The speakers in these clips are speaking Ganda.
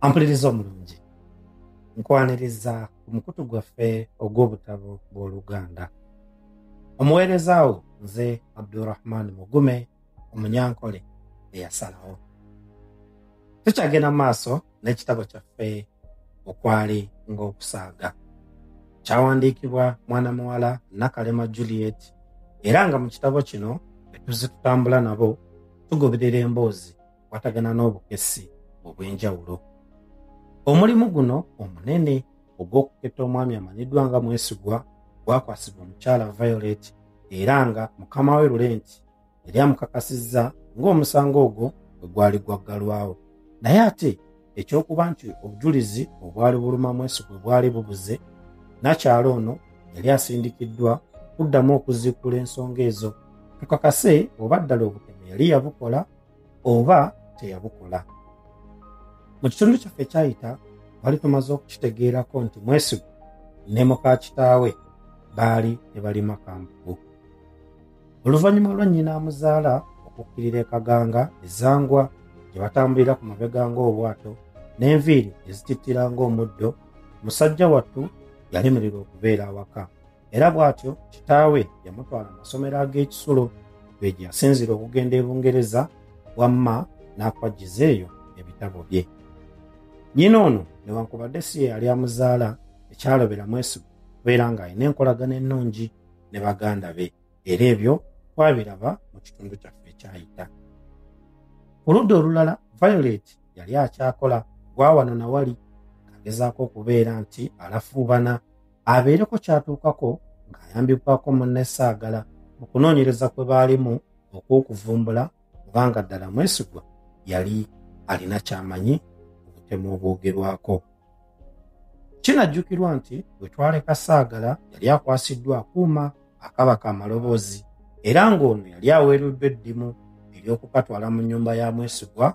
ampuliriza omulungi nkwaniriza ku mukutu gwaffe ogw'obutabo bw'oluganda omuweereza wo nze abdurahman mugume omunyankole eyasalawo tukyagenda mu maaso n'ekitabo kyaffe okwali ng'okusaaga kyawandiikibwa mwana muwala nakalema juliet era nga mu kitabo kino etuzitutambula nabo tugoberera emboozi okukwatagana n'obukessi obw'enjawulo omulimu guno omunene ogw'okuketta omwami amanyiddwa nga mwesigwa gwakwasibwa omukyala violet era nga mukama we lulenti yali amukakasizza ng'omusango ogwo bwe gwali gwaggalwawo naye ate ekyokuba nti obujulizi obwali buluma mwesigwe bwali bubuze nakyalo ono yali asindikiddwa kuddamu okuziikula ensonga ezo tukakase oba ddala obutemu yali yabukola oba teyabukola mu kitundu kyaffe ekyayita bali tumaze okukitegeerako nti mwesigu ne muka kitaawe baali ne balima kambugu oluvannyuma lwa nnyina amuzaala okukkirira ekaganga ezangwa gye batambulira ku mabega ng'obwato n'enviiri ezitittira ng'omuddo musajja wattu yalemererwa okubeera awaka era bw'atyo kitaawe yamutwala mu masomero ag'ekisulo gwe gye yasinzira okugenda e bungereza wamma n'akwajjiza eyo ebitabo bye nnyina ono newankubadde si ye yali amuzaala ekyalobera mwesigwa kubeera ng'alina enkolagana ennungi ne baganda be era ebyo twabiraba mu kitundu kyaffe ekyayita ku ludda olulala violet yali akyakola gwa wano na wali agezaako okubeera nti alafuubana abeereko kyatuukako ng'ayambibwako munne saagala mu kunoonyereza kwe baalimu okw'okuvumbula obanga ddala mwesigwa yali alina kyamanyi obutemu obwogerwako kinajjukirwa nti bwe twaleka saagala yali akwasiddwa akuuma akaba ka maloboozi era ng'ono yali aweereddwa eddimu ery'okukatwala mu nnyumba ya mwesigwa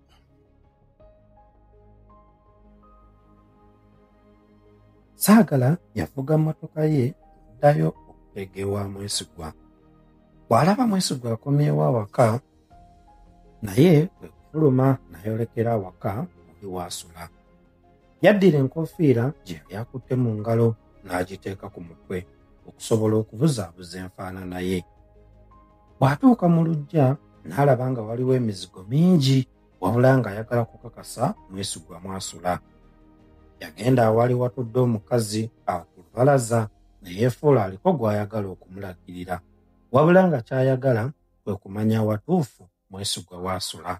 saagala yavuga mmotoka ye ddayo okuteega ewa mwesigwa bw'alaba mwesigwa akomyewo awaka naye kwe kufuluma n'ayolekera awaka oli waasula yaddira enkofiira gye yali akutte mu ngalo n'agiteeka ku mutwe okusobola okubuzaabuza enfaanana ye bw'atuuka mu luggya n'alaba nga waliwo emizigo mingi wabula ng'ayagala kukakasa mwesigwa mwasula yagenda awali watudde omukazi akulubalaza ne yeefuula aliko gw'ayagala okumulagirira wabula nga ky'ayagala kwe kumanya awatuufu mwesigwa waasula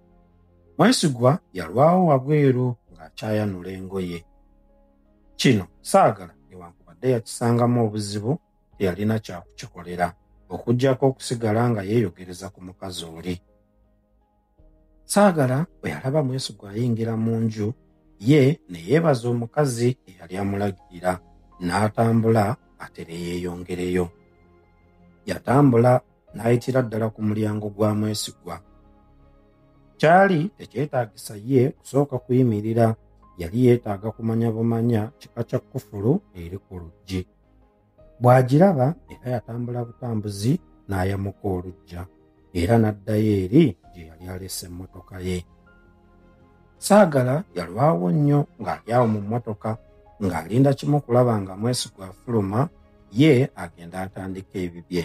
Mwesigwa yalwawo wabweru ng'akyayanula engoye. Kino saagala newankubadde yakisangamu obuzibu teyalina kyakukikolera okuggyako okusigala nga yeeyogereza ku mukazi oli. Saagala bwe yalaba Mwesigwa ayingira mu nju ye ne yeebaza omukazi eyali amulagirira n'atambula atere yeeyongereyo. Yatambula n'ayitira ddala ku mulyango gwa mwesigwa kyali tekyetaagisa ye kusooka kuyimirira yali yeetaaga kumanya bumanya kika kya kufulu eri ku luggi bw'agiraba era yatambula butambuzi n'ayamuka olujja era n'addayo eri gye yali alese emmotoka ye saagala yalwawo nnyo ng'ali awo mu mmotoka ng'alinda kimu kulaba nga mwesigwa afuluma ye agenda atandika ebibye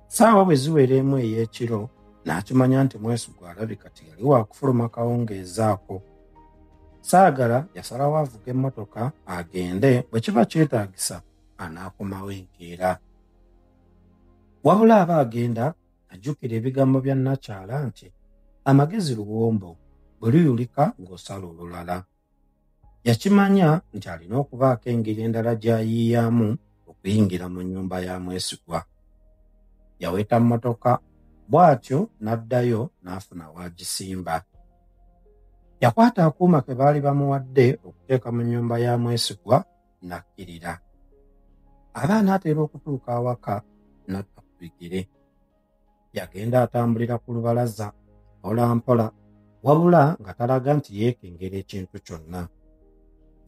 saawa bwe ziwera emu ey'ekiro n'akimanya nti mwesigwa alabi kati yali waakufuluma kawungeezaako saagala yasalawo avuga emmotoka agende bwe kiba kyetaagisa anaakomawo enkeera wabula aba agenda ajjukira ebigambo bya nnakyala nti amagezi luwombo bwe luyulika ng'osala olulala Yakimanya nti alina okubaako engeri endala gy'ayiiyaamu okuyingira mu nnyumba ya mwesigwa. Yaweta mmotoka bw'atyo n'addayo n'afuna w'agisimba. Yakwata akuuma ke baali bamuwadde okuteeka mu nnyumba ya mwesigwa n'akkirira. Aba anaatera okutuuka awaka n'atta ku bigere. yagenda atambulira ku lubalaza mpolampola wabula nga talaga nti yeekengera ekintu kyonna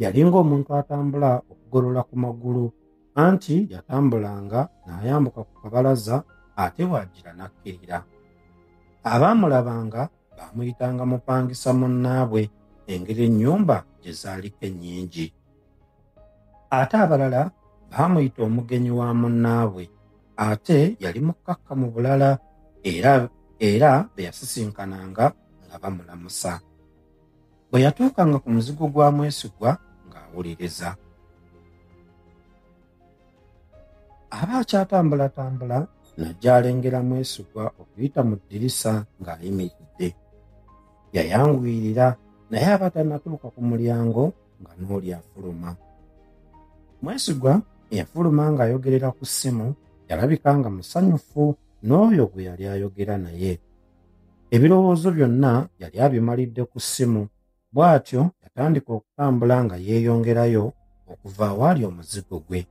yalinga omuntu atambula okugolola ku magulu anti yatambulanga n'ayambuka ku kabalaza ate waagira n'akkirira abaamulabanga baamuyitanga mupangisa munnaabwe engeri ennyumba gye zaaliko ennyingi ate abalala baamuyita omugenyi wa munnaabwe ate yali mukkakka mu bulala era era be yasisinkananga nga bamulamusa bwe yatuukanga ku muzigo gwa mwesigwa ng'awuliriza aba akyatambulatambula najja alengera mwesigwa okuyita mu ddirisa ng'ayimiridde yayanguyirira naye aba tannatuuka ku mulyango nga n'oli afuluma mwesigwa eyafuluma ng'ayogerera ku ssimu yalabika nga musanyufu n'oyo gwe yali ayogera naye ebirowoozo byonna yali abimalidde ku ssimu Bw'atyo yatandika okutambula nga yeeyongerayo okuva awaali omuzigo gwe.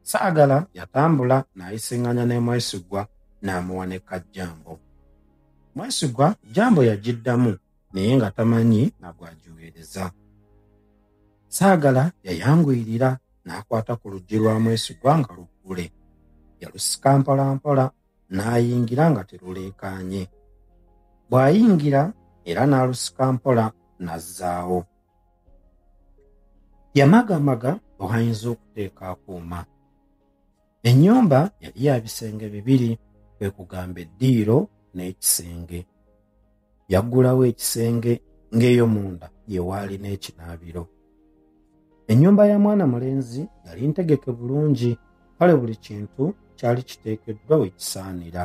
Saagala yatambula n'ayisinganya ne Mwesigwa n'amuwa ne Kajjambo. Mwesigwa Jjambo yagiddamu naye nga tamanyi na gwagiweereza. Saagala yayanguyirira n'akwata ku luggi lwa Mwesigwa nga luggule. Yalusika mpolampola n'ayingira nga teruleekaanye bw'ayingira era n'alusika mpola n'azzaawo yamagamaga bw'ayinza okuteeka akuuma ennyumba yali ya bisenge bibiri kwe kugamba eddiiro n'ekisenge yaggulawo ekisenge ng'eyo munda ye waali n'ekinaabiro ennyumba ya mwana mulenzi yali ntegeke bulungi kale buli kintu kyali kiteekeddwa we kisaanira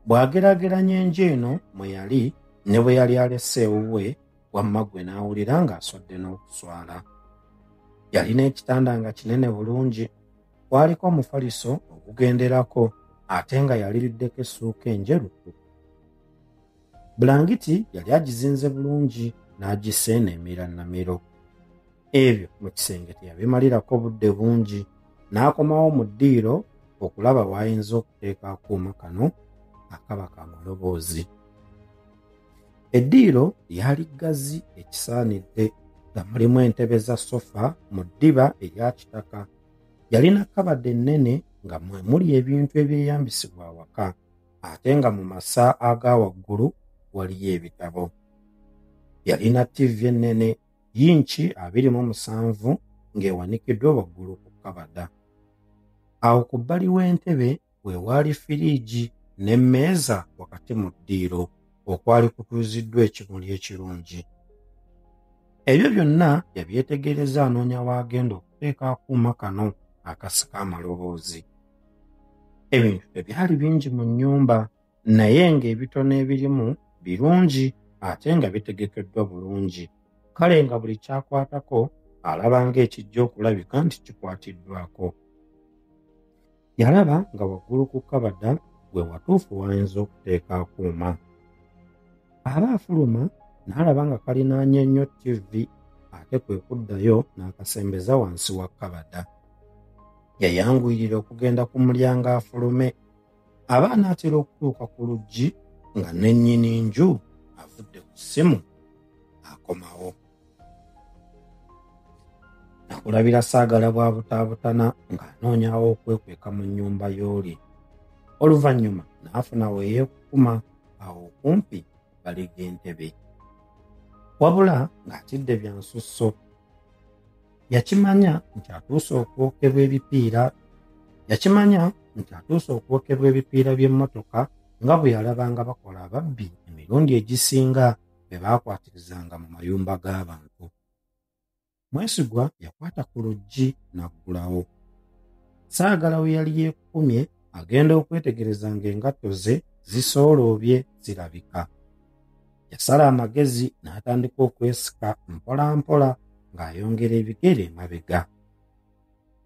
bw'ageraageranya enju eno mwe yali ne bwe yali alese ewuwe wamma gwe n'awulira ng'aswadde n'okuswala yalina ekitanda nga kinene bulungi kwaliko omufaliso ogugenderako ate nga yaliriddeko essuuka enjeru bulangiti yali agizinze bulungi n'agisa eno emira namiro ebyo mu kisenge teyabimalirako obudde bungi n'akomawo mu ddiiro okulaba w'ayinza okuteeka akuuma kano akaba ka maloboozi eddiiro lyali ggazi ekisaanidde nga mulimu entebe za sofa mu ddiba erya kitaka yalina kabadde ennene nga mwe muli ebintu ebyeyambisibwa awaka ate nga mu masa aga waggulu waliyo ebitabo. Yalina ttivi ennene yinki abiri mu musanvu ng'ewanikiddwa waggulu ku kabada. Awo ku bbali w'entebe we waali firiigi n'emmeeza wakati mu ddiiro okwali kutuuziddwa ekimuli ekirungi. Ebyo byonna yabyetegereza anoonya w'agenda okuteeka akuuma kano akasika amaloboozi. ebintu tebyali bingi mu nnyumba naye ng'ebitono ebirimu birungi ate nga bitegekeddwa bulungi kale nga buli kyakwatako alaba ng'ekijja okulabika nti kikwatiddwako yalaba nga waggulu ku kabada gwe watuufu wayinza okuteeka akuuma aba afuluma n'alaba nga kalinaanye nnyo ttivi ate kwe kuddayo n'akasembeza wansi wa kabada yayanguyirira okugenda ku mulyango afulume aba anaatera okutuuka ku luggi nga nennyini nju avudde ku ssimu akomawo nakulabira saagala bwa butaabutana ng'anoonyawo okwekweka mu nnyumba y'oli oluvannyuma n'afuna weyeekukuma awo okumpi balega entebe wabula ng'atidde byansusso yakimanya nti atuuse okwokebwa ebipiira yakimanya nti atuuse okwokebwa ebipiira by'emmotoka nga bwe yalabanga bakola ababbi emirundi egisinga be baakwatirizanga mu mayumba g'abantu mwesigwa yakwata ku luggi n'aggulawo saagala we yali yeekukumye agenda okwetegereza ng'engatto ze zisooloobye zirabika Yasala amagezi n'atandika okwesika mpolampola ng'ayongera ebigere emabega.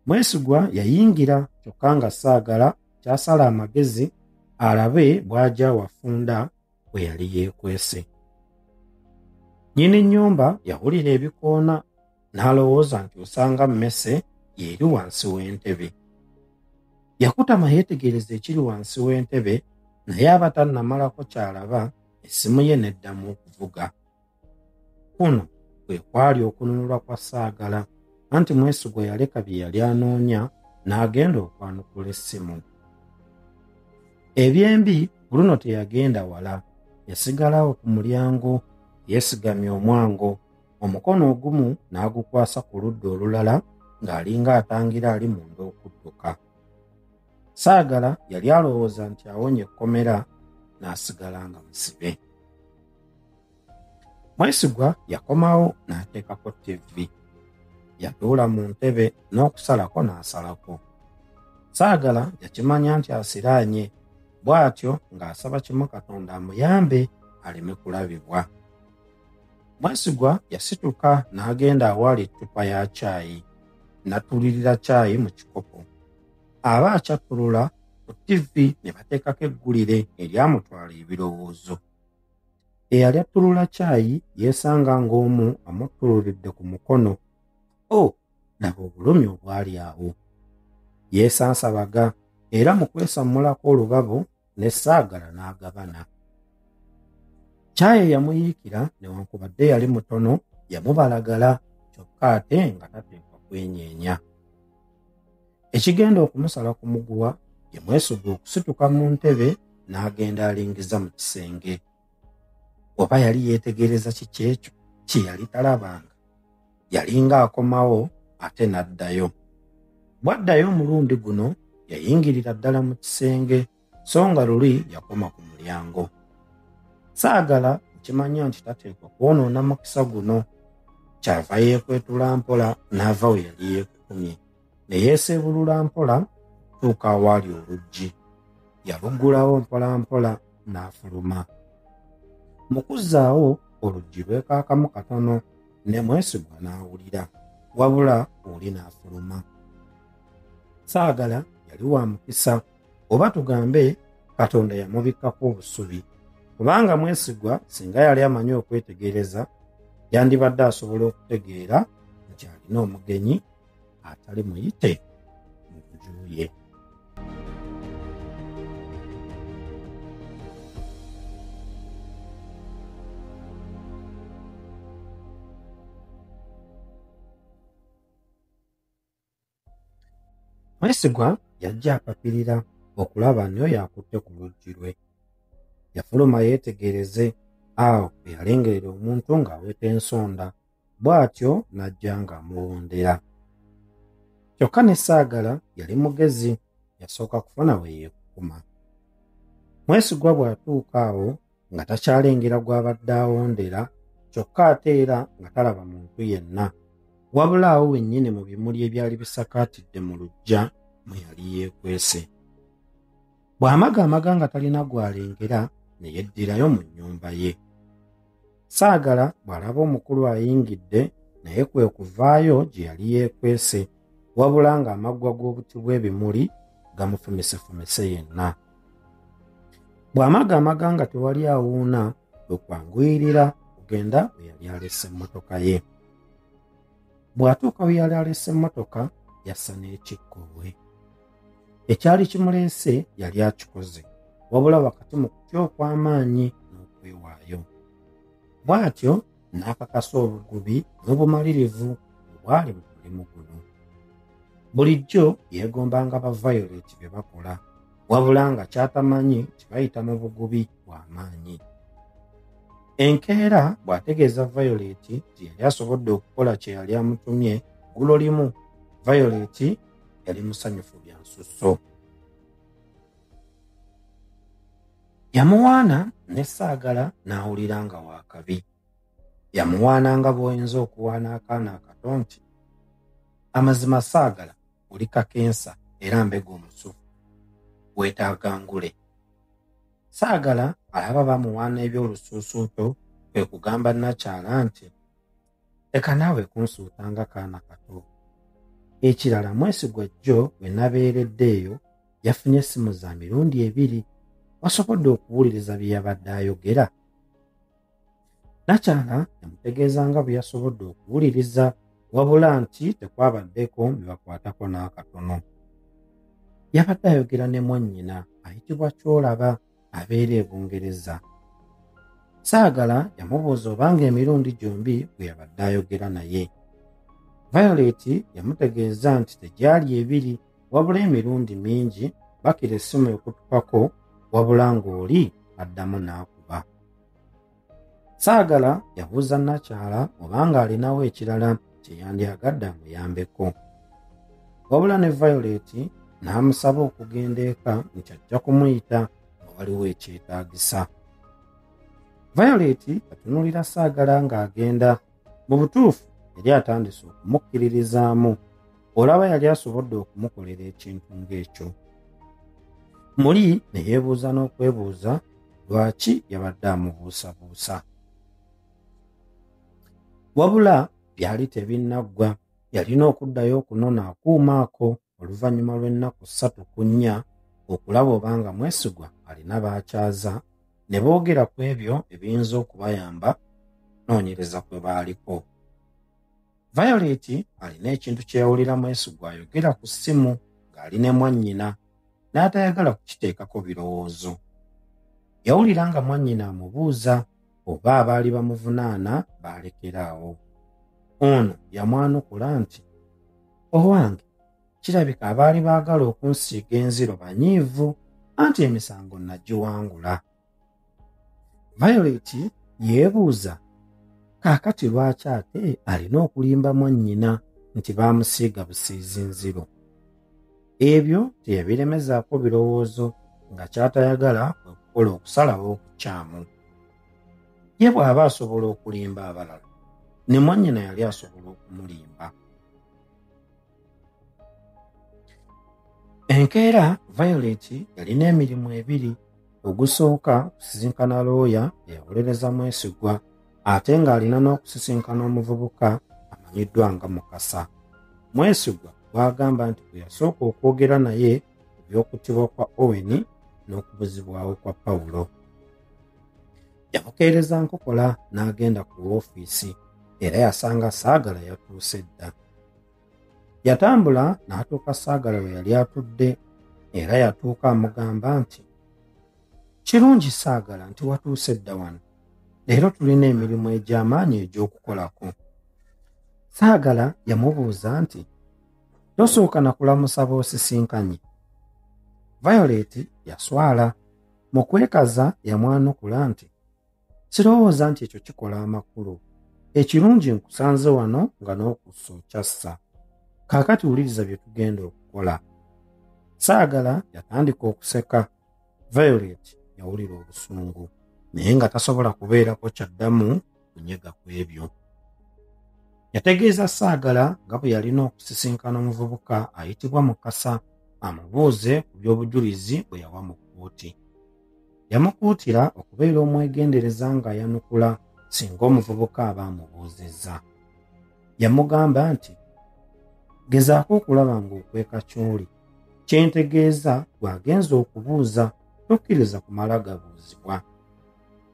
Mwesigwa yayingira kyokka nga saagala kyasala amagezi alabe bw'agya wafunda bwe yali yeekwese. Nnyini nnyumba yawulira ebikoona n'alowooza nti osanga mmese y'eri wansi w'entebe yakutama yeetegereza ekiri wansi w'entebe naye aba tannamalako ky'alaba essimu ye n'eddamu okuvuga kuno kwe kwali okununulwa kwa saagala anti mwesigwa yaleka bye yali anoonya n'agenda okwanukula essimu ebyembi bruno teyagenda wala yasigalawo ku mulyango yeesigamye omwango omukono ogumu n'agukwasa ku ludda olulala ng'alinga atangira ali munda okudduka saagala yali alowooza nti awonye ekkomera n'asigala nga musibe mwesigwa yakomawo n'ateekako ttivi yatuula mu ntebe n'okusalako n'asalako saagala yakimanya nti asiraanye bw'atyo ng'asaba kimu katonda amuyambe aleme kulabibwa Mwesigwa yasituka n'agenda awaali ettupa ya caayi natulirira caayi mu kikopo aba akyattulula ku ttivvi ne bateekako eggulire eryamutwala ebirowoozo eyali attulula caayi yeesanga ng'omu amuttuluridde ku mukono o oh, laba obulumi obwali awo yeesansabaga era mu kwesammulako olubabo ne saagala n'agabana caayi eyamuyiikira newankubadde yali mutono yamubalagala kyokka ate nga tateekwa kwenyeenya ekigenda okumusala ku muguwa yamwesubwa okusituka mu ntebe n'agenda alingiza mu kisenge oba yali yeetegereza kiki ekyo kye yali talabanga yalinga akomawo ate n'addayo bw'addayo omulundi guno yayingirira ddala mu kisenge so nga luli yakoma ku mulyango saagala okimanya nti tateekwa kwonoona mukisa guno kyava yeekwetula mpola n'ava we yali yeekukumye ne yeeseebulula mpola okutuuka awaali oluggi yaluggulawo mpolampola n'afuluma mu kuzzaawo oluggi lwekaakamu katono ne mwesigwa n'awulira wabula oli n'afuluma saagala yali wa mukisa oba tugambe katonda yamubikkako obusubi kubanga mwesigwa singa yali amanyi okwetegereza yandibadde asobola okutegeera nti alina omugenyi atali muyite mu nju ye mwesigwa yajja apapirira okulaba niyo yakutte ku luggi lwe yafuluma yeetegereze awo eyalengerera omuntu ng'aweta ensonda bw'atyo n'ajja ng'amuwondera kyokka ne saagala yali mugezi yasooka kufuna we yeekukuma mwesigwa bw'atuuka awo nga takyalengera gw'abadde awondera kyokka ate era nga talaba muntu yenna wabula awo wennyini mu bimuli ebyali bisakaatidde mu luggya mwe yali yeekwese bw'amaga amaga nga talina gw'alengera ne yeddirayo mu nnyumba ye Saagala bw'alaba omukulu ayingidde naye kwe kuvaayo gye yali yeekwese wabula ng'amaggwa g'obuti bw'ebimuli gamufumisefumise yenna. Bw'amaga amaga nga tewali awuuna kwe kwanguyirira okugenda we yali alese emmotoka ye. Bw'atuuka we yali alese emmotoka yassa n'ekikkoowe. ekyali kimuleese yali akikoze wabula wakati mu kutya okw'amaanyi n'okwewaayo bw'atyo n'akakasa obugubi n'obumalirivu obwali mu mulimu guno bulijjo yeegombanga ba violet bye bakola wabula nga kyatamanyi kibayita mu bugubi bw'amaanyi enkeera bw'ategeeza violet nti yali asobodde okukola kye yali amutumye gulo limu violet yali musanyufu bya nsusso yamuwaana ne saagala n'awulira nga waakabi yamuwaana nga bw'oyinza okuwaana akaana akato nti amazima saagala oli kakensa era mbega omusufu weetaaga ngule saagala alaba bamuwaana eby'olusuusuuto kwe kugamba nakyala nti leka naawe kunsuuta nga kaana kato ekirala mwesigwa jjo bwe nabeeredde eyo yafunye essimu za mirundi ebiri wasobodde okuwuliriza bye yabadde ayogera nakyala yamutegeeza nga bwe yasobodde okuwuliriza wabula nti tekwabaddeko bibakwatako n'akatono yabadde ayogera ne mwannyina ayitibwa kyolaba abeera e bungereza saagala yamubuuza obanga emirundi gyombi bwe yabadde ayogera naye violet yamutegeeza nti tegyali ebiri wabula emirundi mingi bakira essimu ekutukako wabula ng'oli addamu n'aku Saagala yabuuza Nakyala obanga alinawo ekirala kye yandyagadde amuyambeko. Wabula ne Violet n'amusaba okugenda eka nti ajja kumuyita nga waliwo ekyetaagisa. Violet atunulira Saagala ng'agenda mu butuufu yali atandise okumukkiririzaamu olaba yali asobodde okumukolera ekintu ng'ekyo muli ne yeebuuza n'okwebuuza lwaki yabadde amubuusabuusa wabula byali tebinnaggwa yalina okuddayo okunona akuuma ako oluvannyuma lw'ennaku ssatu ku nnya okulaba obanga mwesigwa alina baakyaza ne boogera ku ebyo ebiyinza okubayamba noonyereza kwe baaliko violet alina ekintu kye yawulira mwesigwa ayogera ku ssimu ng'ali ne mwannyina n'atayagala kukiteekako birowoozo yawulira nga mwannyina amubuuza oba abaali bamuvunaana baalekera awo ono yamwanukula nti owange kirabika abaali baagala okunsiiga enziro banyiivu anti emisango nagiwangula violet yeebuuza kaakati lwaki ate alina okulimba mwannyina nti baamusiiga busiizi nziro ebyo teyabiremezaako birowoozo nga ky'atayagala kwe kukola okusalawo okukyamu ye bw'aba asobola okulimba abalala ne mwannyina yali asobola okumulimba enkeera violet yalina emirimu ebiri ogusooka okusisinkana looya eyawolereza mwesigwa ate ng'alina n'okusisinkana omuvubuka amanyiddwa nga mukasa mwesigwa gwagamba nti bwe yasooka okwogera naye ku by'okuttibwa kwa owen n'okubuzibwawo kwa pawulo yamukeereza nkokola n'agenda ku woofiisi era yasanga saagala yatuuse dda yatambula n'atuuka saagala we yali atudde era yatuuka amugamba nti kirungi saagala nti watuuse dda wano leero tulina emirimu egy'amaanyi egy'okukolako saagala yamubuuza nti tosooka na kulamusa boosisinkanye violet yaswala Mu kwekaza yamwanukula nti, Sirowooza nti ekyo kikola amakulu. Ekirungi nkusanze wano nga n'okussa okyassa. Kaakati wuliriza bye tugenda okukola. Saagala yatandika okuseka. Violet yawulira obusungu. Naye nga tasobola kubeerako kyaddamu kunyega ku ebyo yategeeza saagala nga bwe yalina okusisinkana omuvubuka ayitibwa mukasa amubuuze ku by'obujulizi bwe yawa mu kkooti yamukuutira okubeera omwegendereza ng'ayanukula singa omuvubuka aba amubuuzizza yamugamba nti gezaako okulaba ng'okweka ky'oli kyentegeeza gwagenza okubuuza tokkiriza kumala gabuuzibwa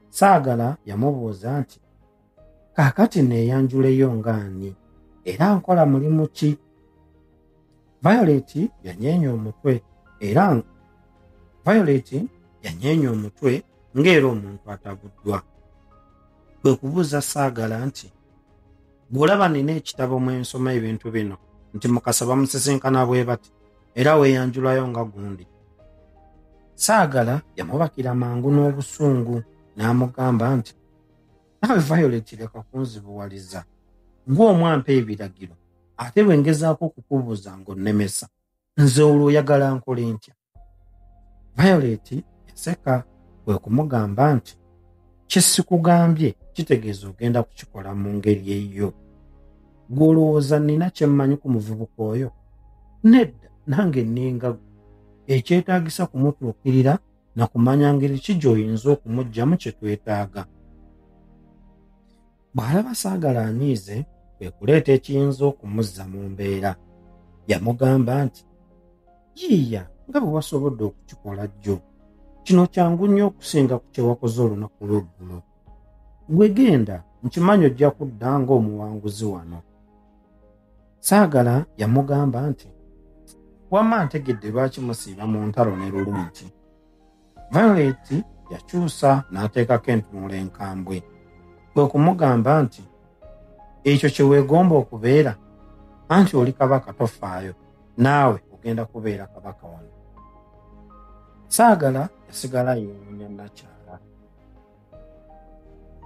Saagala yamubuuza nti, Kaakati neeyanjuleyo nga ani era nkola mulimu ki? Violet yanyeenya omutwe era Violet yanyeenya omutwe ng'era omuntu atabuddwa. Kwe kubuuza Saagala nti, bw'olaba nina ekitabo mwe nsoma ebintu bino nti mukasa bamusisinkana bwe bati era weeyanjulayo nga gundi saagala yamubakira mangu n'obusungu n'amugamba nti nawe violet leka kunzibuwaliza ng'omwampa ebiragiro ate bwe ngezaako okukubuuza ng'onnemesa nze olwo oyagala nkole ntya violet enseka kwe kumugamba nti kyesikugambye kitegeeza ogenda kukikola mu ngeri eyiyo gwolowooza nina kyemmanyi ku muvubuka oyo nedda nange nninga gwe ekyetaagisa kumutuukirira na kumanya ngeri ki gy'oyinza okumuggyamu kye twetaaga bw'alaba saagala anyiize kwe kuleeta ekiyinza okumuzza mu mbeera yamugamba nti yiiya nga bwe wasobodde okukikola jjo kino kyangu nnyo okusinga ku kyewakoze olunaku lweggulo gwe genda nkimanyi ojja kudda ng'omuwanguzi wano saagala yamugamba nti wamma ntegedde lwaki musiiba mu ntalo ne lulungi Violet yakyusa n'ateekako entunula enkambwe kwe kumugamba nti ekyo kye weegomba okubeera anti oli kabaka tofaayo naawe ogenda kubeera kabaka wano saagala yasigala yeewunya nakyala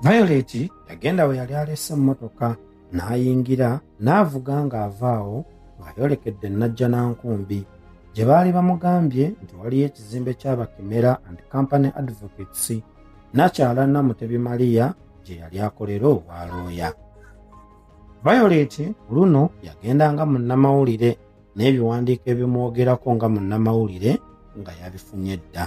violet yagenda we yali alese emmotoka n'ayingira n'avuga ng'ava awo ng'ayolekedde najja na nkumbi gye baali bamugambye nti waliyo ekizimbe ky'abakimera and company advocates nakyala namutebi maliya gye yali akolera obwa looya violet luno yagenda nga munnamawulire n'ebiwandiiko ebimwogerako nga munnamawulire nga yabifunye dda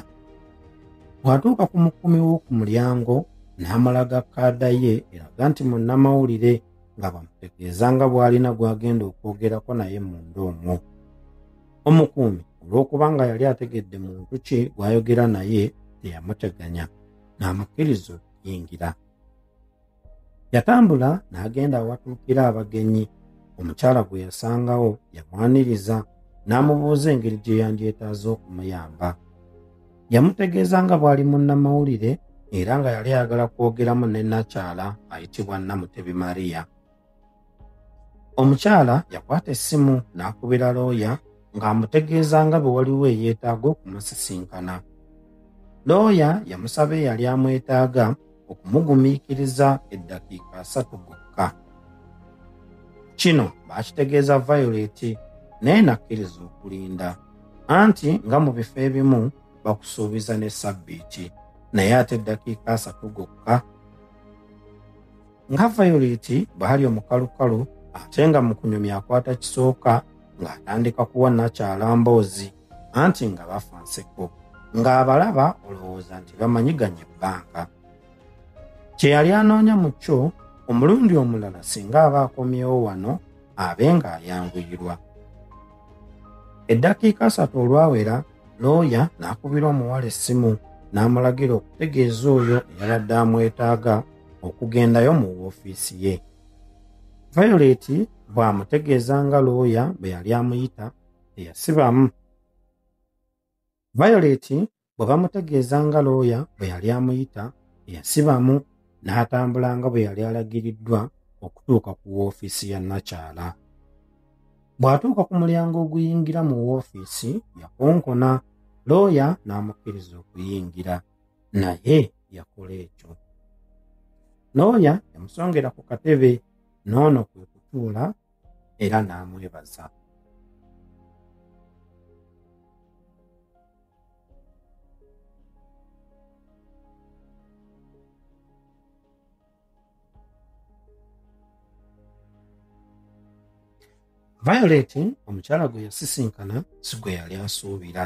bw'atuuka ku mukumi w'oku mulyango n'amulaga kaada ye eraga nti munnamawulire nga bamutegeeza nga bw'alina gw'agenda okwogerako naye munda omwo omukuumi olw'okuba nga yali ategedde muntu ki gw'ayogera naye teyamuteganya n'amukkiriza okuyingira Yatambula n'agenda awatuukira abagenyi. Omukyala gwe yasangawo yamwaniriza n'amubuuza engeri gye yandyetaaza okumuyamba. Yamutegeeza nga bw'ali munnamawulire era nga yali ayagala kwogeramu ne nnakyala ayitibwa Namutebi Maria. omukyala yakwata essimu n'akubira looya ng'amutegeeza nga bwe waliwo eyeetaaga okumusisinkana looya yamusaba eyali amwetaaga okumugumiikiriza eddakiika asatu gokka kino baakitegeeza violet naye nakkiriza okulinda anti nga mu bifo ebimu bakusuubiza ne sabbiiti naye ate eddakiika asatu gokka nga violet bwali omukalukalu ate nga mu kunyumya akwata kisooka ng'atandika kuwa nakyala mboozi anti nga bafa nseko ng'abalaba olowooza nti bamanyiganye ebbanga kye yali anoonya mu kyo omulundi omulala singa aba akomyewo wano abe ng'ayanguyirwa eddakiika asatu olwawera looya n'akubira omuwala essimu n'amulagira okutegeeza oyo eyabadde amwetaaga okugendayo mu woofiisi ye violet bw'amutegeeza nga looya bwe yali amuyita teyasibamu violet bwe bamutegeeza nga looya bwe yali amuyita teyasibamu n'atambula nga bwe yali alagiriddwa okutuuka ku woofiisi ya nakyala bw'atuuka ku mulyango oguyingira mu woofiisi yakonkona looya n'amukkiriza okuyingira naye yakola ekyo noonya yamusongera ku katebe n'ono kwe kutuula era n'amwebaza violet omukyala gwe yasisinkana si gwe yali asuubira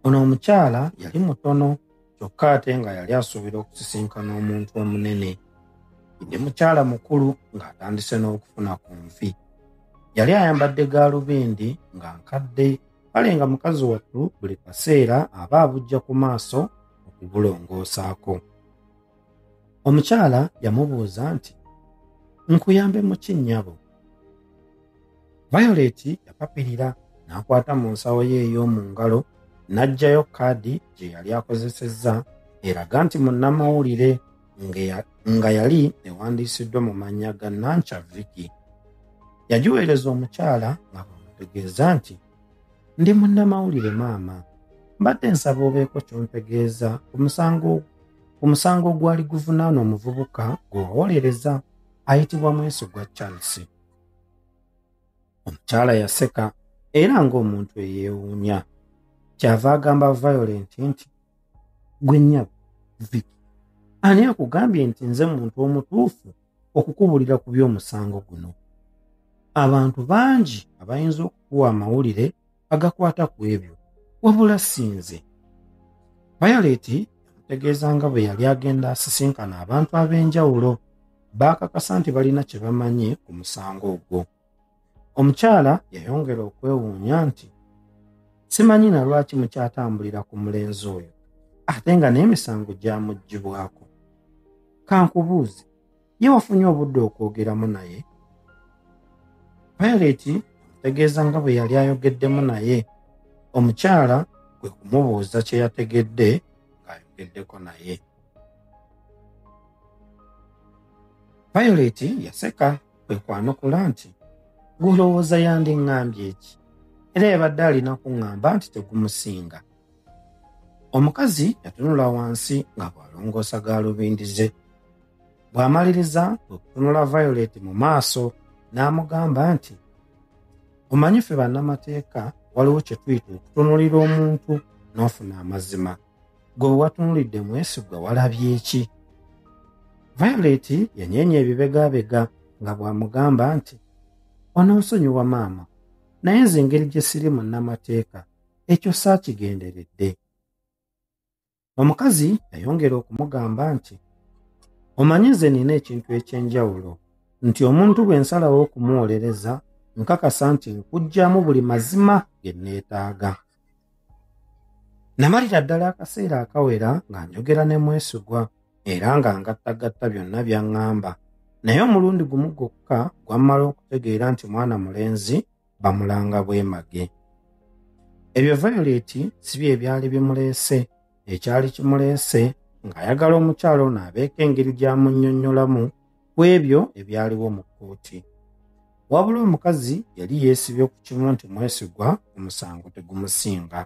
ono omukyala yali mutono kyokka ate nga yali asuubira okusisinkana omuntu omunene ndi mukyala mukulu ng'atandise n'okufuna ku nfi yali ayambadde gaalubindi nga nkadde kale nga mukazi wattu buli kaseera aba abujja ku maaso okubulongoosaako omukyala yamubuuza nti nkuyambe mu kinnyabo violet yapapirira n'akwata mu nsawo ye ey'omu ngalo n'aggyayo kaadi gye yali akozesezza eraga nti munnamawulire nga yali ewandiisiddwa mu mannya ga nanca viki yagiweereza omukyala nga bwamutegeeza nti ndi munnamawulire maama mbadde nsaba obeeko kyontegeeza ku musango ogwali guvunaana omuvubuka gwewawolereza ayitibwa mwesigwa charles omukyala yaseka era ng'omuntu eyeewuunya kyava agamba violent nti gwe nnyabo viki ani akugambye nti nze muntu omutuufu okukubulira ku by'omusango guno abantu bangi abayinza okukuwa amawulire agakwata ku ebyo wabula sinze bayaleeti yamutegeeza nga bwe yali agenda asisinkana abantu ab'enjawulo baakakasa nti balina kye bamanyi ku musango ogwo omukyala yayongera okwewuunya nti simanyi na lwaki mukyatambulira ku mulenzi oyo ate nga n'emisango gyamugibwako kankubuuzi ye wafunye obudde okwogeramu naye payireti ategeeza nga bwe yali ayogeddemu naye omukyala kwe kumubuuza kye yategedde ng'ayogeddeko naye payireti yaseka kwe kwanukula nti gulowooza yandiŋŋambye eki era yabadde alina kuŋŋamba nti tegumusinga omukazi yatunula wansi nga bw'alongoosa gaalubindi ze bw'amaliriza kwe kutunula violet mu maaso n'amugamba nti omanyi ffe bannamateeka waliwo kye tuyita okutunulira omuntu n'ofuna amazima gwe watunulidde mwesigwa walabye ki violet yanyeenya ebibegabega nga bw'amugamba nti ononsonyiwa maama naye nze engeri gye siri munnamateeka ekyo saakigenderedde omukazi yayongera okumugamba nti omanyi nze nina ekintu eky'enjawulo nti omuntu bwe nsalawo okumuwolereza nkakasa nti nkugyamu buli mazima ge nneetaaga Namalira ddala akaseera akawera nga njogera ne mwesigwa era nga ngattagatta byonna by'aŋŋamba naye omulundi gumu gwokka gwammala okutegeera nti mwana mulenzi bamulanga bwemage ebyo violet si bye byali bimuleese ekyali kimuleese ng'ayagala omukyalo ono abeeko engeri gy'amunnyonnyolamu ku ebyo ebyaliwo mu kkooti wabula omukazi yali yeesibye ku kimu nti mwesigwa omusango tegumusinga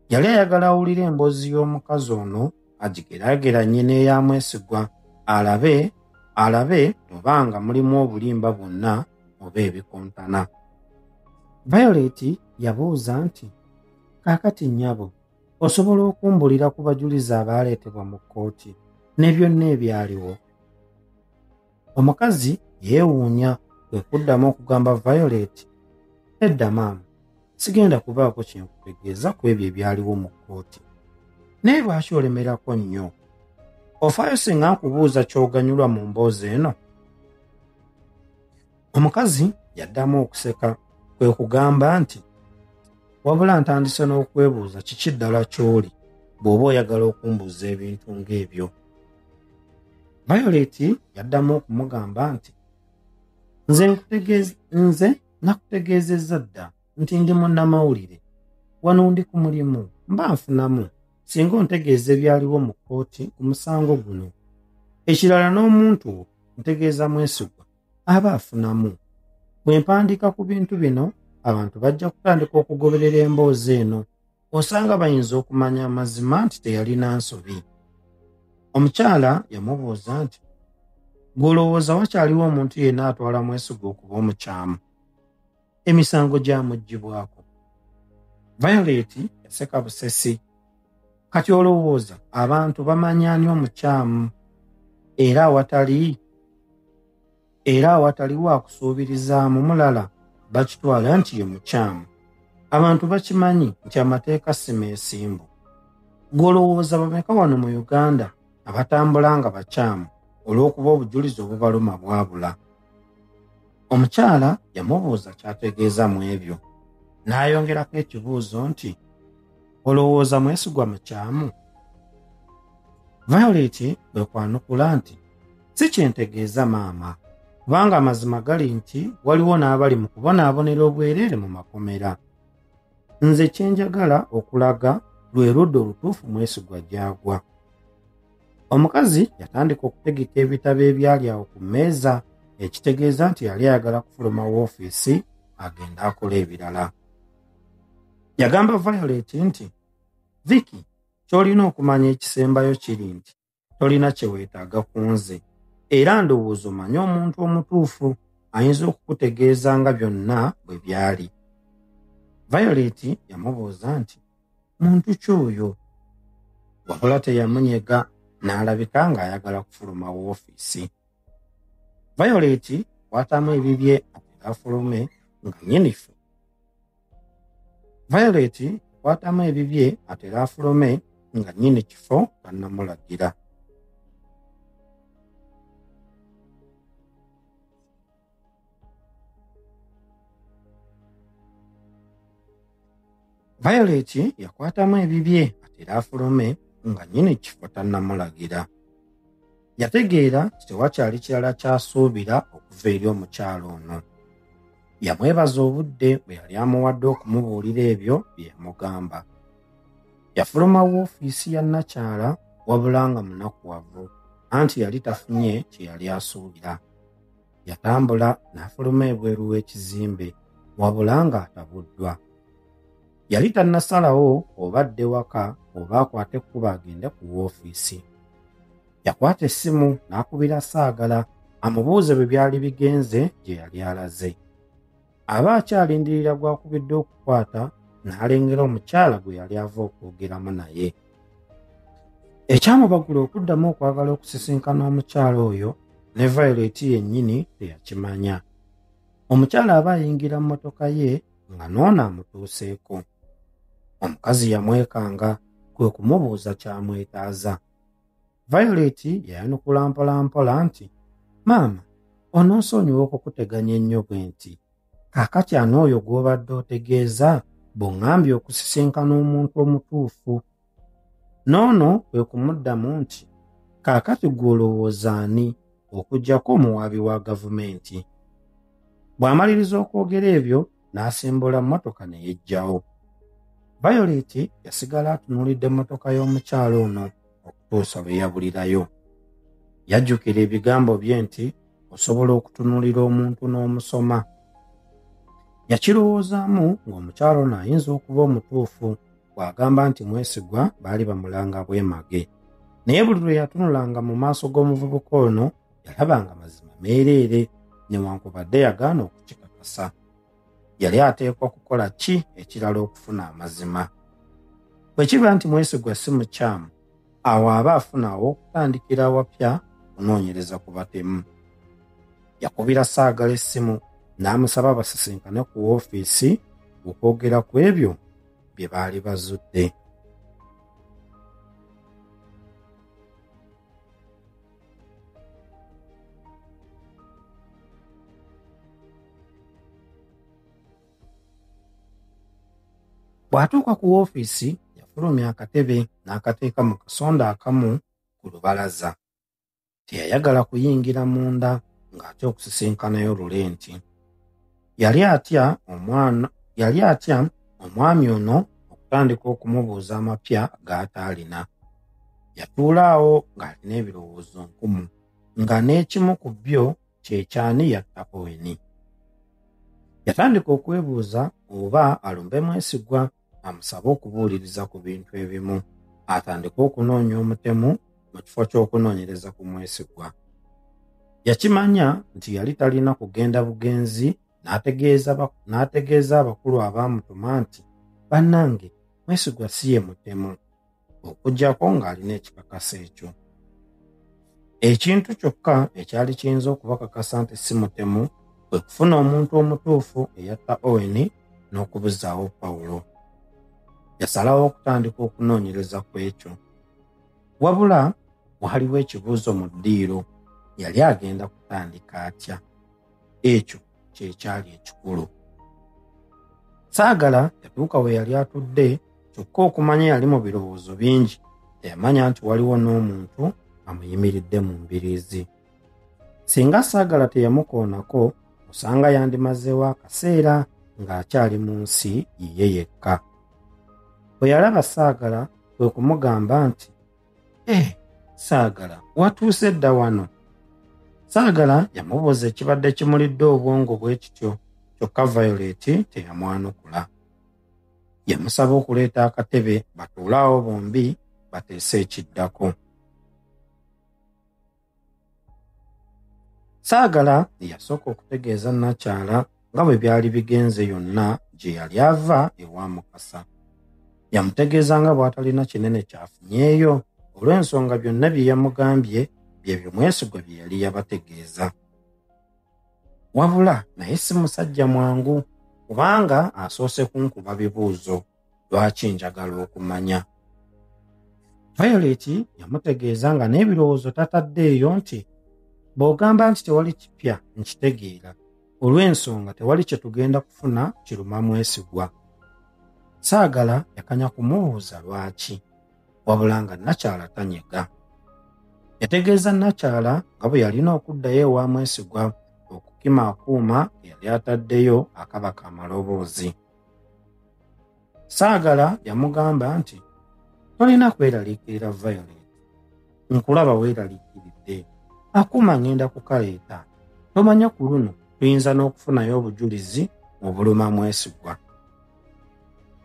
yali ayagala awulire emboozi y'omukazi ono agigeraageranye n'eya mwesigwa alabe alabe oba nga mulimu obulimba bwonna oba ebikontana violet yabuuza nti kaakati nnyabo osobola okumbulira ku bajulizi abaaleetebwa mu kkooti ne byonna ebyaliwo omukazi yeewuunya kwe kuddamu okugamba violet edda maama sigenda kubaako kyenkutegeeza ku ebyo ebyaliwo mu kkooti naye lwaki olemerako nnyo ofaayo singa nkubuuza ky'oganyulwa mu mboozi eno omukazi yaddamu okuseka kwe kugamba nti wabula ntandise n'okwebuuza kiki ddala ky'oli bw'oba oyagala okumbuuza ebintu ng'ebyo violet yaddamu okumugamba nti nze nze nakutegeezezza dda nti ndi munnamawulire wano ndi ku mulimu mba nfunamu singa ontegeeza ebyaliwo mu kkooti ku musango guno ekirala n'omuntu ntegeeza mwesigwa aba afunamu bwe mpandiika ku bintu bino abantu bajja kutandika okugoberera emboozi eno osanga bayinza okumanya amazima nti teyalina nsobi omukyala yamubuuza nti gw'olowooza wakyaliwo omuntu yenna atwala mwesiga okuba omukyamu emisango gyamuggyibwako violet yaseka busesi kati olowooza abantu bamanyi ani omukyamu era awatali era awatali wakusuubirizaamu mulala bakitwala nti ye mukyamu abantu bakimanyi nti amateeka simeesimbu gwolowooza bameka wano mu uganda abatambula nga bakyamu olw'okuba obujulizi obubaluma bwabula omukyala yamubuuza kyategeeza mu ebyo n'ayongerako ekibuuzo nti olowooza mwesigwa mukyamu violet bwe kwanukula nti si kyentegeeza maama kubanga amazima gali nti waliwo n'abali mu kubonaabonera obwereere mu makomera nze kyenjagala okulaga lwe ludda olutuufu mwesigwa gyagwa omukazi yatandika okutegeka ebitabo ebyali awo ku mmeeza ekitegeeza nti yali ayagala kufuluma woofiisi agenda akola ebirala yagamba violet nti viki ky'olina okumanya ekisembayo kiri nti tolina kye weetaaga ku nze era ndowooza omanye omuntu omutuufu ayinza okukutegeeza nga byonna bwe byali violet yamubuuza nti muntu ki oyo wabula teyamunyega n'alabika ng'ayagala kufuluma woofiisi violet kwatamu ebibye ateraafulume nga nyinifu violet kwatamu ebibye ateraafulume nga nyini kifo bannamulagira Violet yakwatamu ebibye atera afulume nga nyini kifo tannamulagira. Yategeera nti tewakyali kirala ky'asuubira okuva eri omukyalo ono. Yamwebaza obudde bwe yali amuwadde okumubuulira ebyo bye yamugamba. Yafuluma woofiisi ya nnakyala wabula nga munakuwavu anti yali tafunye kye yali asuubira. yatambula n'afuluma ebweru w'ekizimbe wabula ng'atabuddwa yali tannasalawo oba adde waka oba akwate ekkuba agende ku woofiisi yakwata essimu n'akubira saagala amubuuze bwe byali bigenze gye yali alaze aba akyalindirira gw'akubidde okukwata n'alengera omukyala gwe yali ava okwogeramu naye ekyamubagula okuddamu okwagala okusisinkana omukyala oyo ne violeeti yennyini teyakimanya omukyala aba ayingira mu motoka ye nga noona amutuuseeko omukazi yamwekanga kwe kumubuuza kyamwetaaza violet yayanukula mpolampola nti maama ononsonyiwa okukuteganya ennyo bwe nti kaakati ani oyo gw'obadde otegeeza bw'oŋambye okusisinkana omuntu omutuufu n'ono kwe kumuddamu nti kaakati gw'olowooza ani okugyako omuwaabi wa gavumenti bw'amaliriza okwogera ebyo n'asimbula mmotoka ne yeggyawo violet yasigala atunuulidde mmotoka y'omukyalo ono okutuusa lwe yabulirayo. Yajjukira ebigambo bye nti osobola okutunuulira omuntu n'omusoma. Yakirowoozaamu ng'omukyalo ono ayinza okuba omutuufu bw'agamba nti mwesigwa baali bamulanga bwemage. Naye buli lwe yatunulanga mu maaso g'omuvubuka ono yalabanga mazima meereere newankubadde yagaana okukikakasa. yali ateekwa kukola ki ekirala okufuna amazima bwe kiba nti mwesigwa si mukyamu awo aba afuna aw'okutandikira awapya okunoonyereza ku batemu yakubira saagala essimu n'amusaba basisinkane ku woofiisi okwogera ku ebyo bye baali bazudde bw'atuuka ku woofiisi yafulumya akatebe n'akateeka mu kasonda akamu ku lubalaza teyayagala kuyingira munda ng'ate okusisinkanayo lule nti Yali atya omwana yali atya omwami ono okutandika okumubuuza amapya g'ataalina. Yatuula awo ng'alina ebirowoozo nkumu nga n'ekimu ku byo kye kyani yatta Oweni. Yatandika okwebuuza oba alumbe mwesigwa amusabe okubuuliriza ku bintu ebimu atandike okunoonya omutemu mu kifo ky'okunoonyereza ku mwesigwa yakimanya nti yali talina kugenda bugenzi n'ategeeza abakulu abaamutuma nti bannange mwesigwa si ye mutemu okujjako ng'alina ekikakasa ekyo ekintu kyokka ekyali kiyinza okubakakasa nti si mutemu kwe kufuna omuntu omutuufu eyatta owen n'okubuzaawo pawulo yasalawo okutandika okunoonyereza ku ekyo wabula waliwo ekibuuzo mu ddiiro yali agenda kutandika atya ekyo kyekyali ekikulu saagala yatuuka we yali atudde kyokka okumanya yali mu birowoozo bingi teyamanya nti waliwo n'omuntu amuyimiridde mu mbiriizi singa saagala teyamukoonako osanga yandimazeewo akaseera ng'akyali mu nsi yiye yekka bwe yalaba saagala kwe kumugamba nti eh, saagala watuuse dda wano saagala yamubuuza ekibadde kimulidde obwongo bwe kityo kyokka violet teyamwanukula yamusaba okuleeta akatebe batuulaawo bombi bateese ekiddako saagala eyasooka okutegeeza nakyala nga bwe byali bigenze yonna gye yali ava ewa mukasa yamutegeeza nga bw'atalina kinene kyafunyeeyo olw'ensonga byonna bye yamugambye byebyo mwesigwa bye yali yabategeeza wabula naye si musajja mwangu kubanga asoose kunkuba bibuuzo lwaki njagala okumanya payoleti yamutegeeza nga n'ebirowoozo tatadde eyo nti bw'ogamba nti tewali kipya nkitegeera olw'ensonga tewali kye tugenda kufuna kiruma mwesigwa saagala yakanya kumubuuza lwaki wabula nga nakyala tanyega yategeeza nakyala nga bwe yalina okuddayo ewa mwesigwa okukima akuuma eyali ataddeyo akaba kamaloboozi saagala yamugamba nti tolina kweraliikirira violet nkulaba weeraliikiridde akuuma ng'enda kukaleeta tomanya ku luno tuyinza n'okufunayo obujulizi obuluma mwesigwa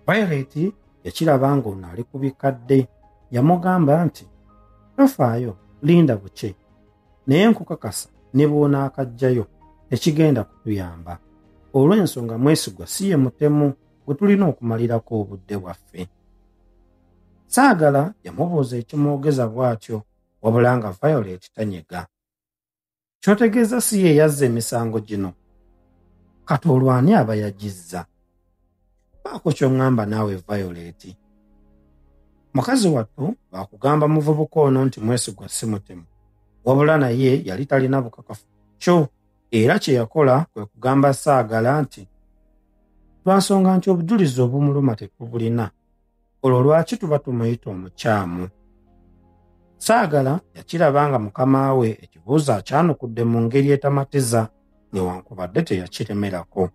violet yakiraba ng'ono ali ku bikadde yamugamba nti tofaayo linda bukye naye nkukakasa ne bw'onaakajjayo tekigenda kutuyamba olw'ensonga mwesigwa si ye mutemu gwe tulina okumalirako obudde bwaffe saagala yamubuuza ekimwogeza bw'atyo wabula nga violet tanyega kyotegeeza si ye yazza emisango gino kati olwani aba yagizza baako kyongamba naawe violeti mukazi wattu baakugamba muvubuka ono nti mwesigwa si mutemu wabula naye yali talina bukakafu kyo era kye yakola kwe kugamba saagala nti lwansonga nti obujulizi obumuluma tetubulina olwo lwaki tuba tumuyita omukyamu saagala yakiraba nga mukama we ekibuuzo akyanukudde mu ngeri etamatiza newankubadde teyakiremerako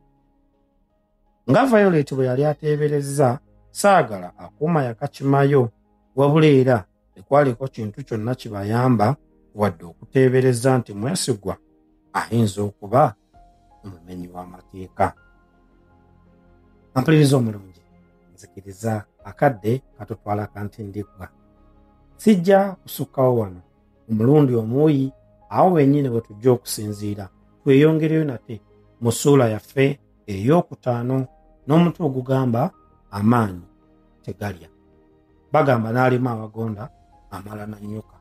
nga violet bwe yali ateeberezza saagala akuuma yakakimayo wabula era tekwaliko kintu kyonna kibayamba wadde okuteebereza nti mwesigwa ayinza okuba omumenyi w'amateeka ampuliriza omulungi nzikiriza akadde katutwala kantindiggwa sijja kusukkawo wano omulundi omuuyi awo wennyini bwe tujja okusinziira tweyongereyo nate mu ssuula yaffe ey'okutaano n'omutu ogugamba amaanyi tegalya bagamba n'alima awagonda amala na nnyuka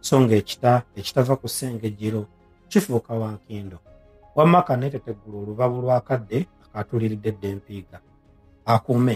so ng'ekita ekitava ku ssengejjero kifuuka wankindo wamma kaneeteteggula olubabu lw'akadde akaatuliridde dde mpiiga akuume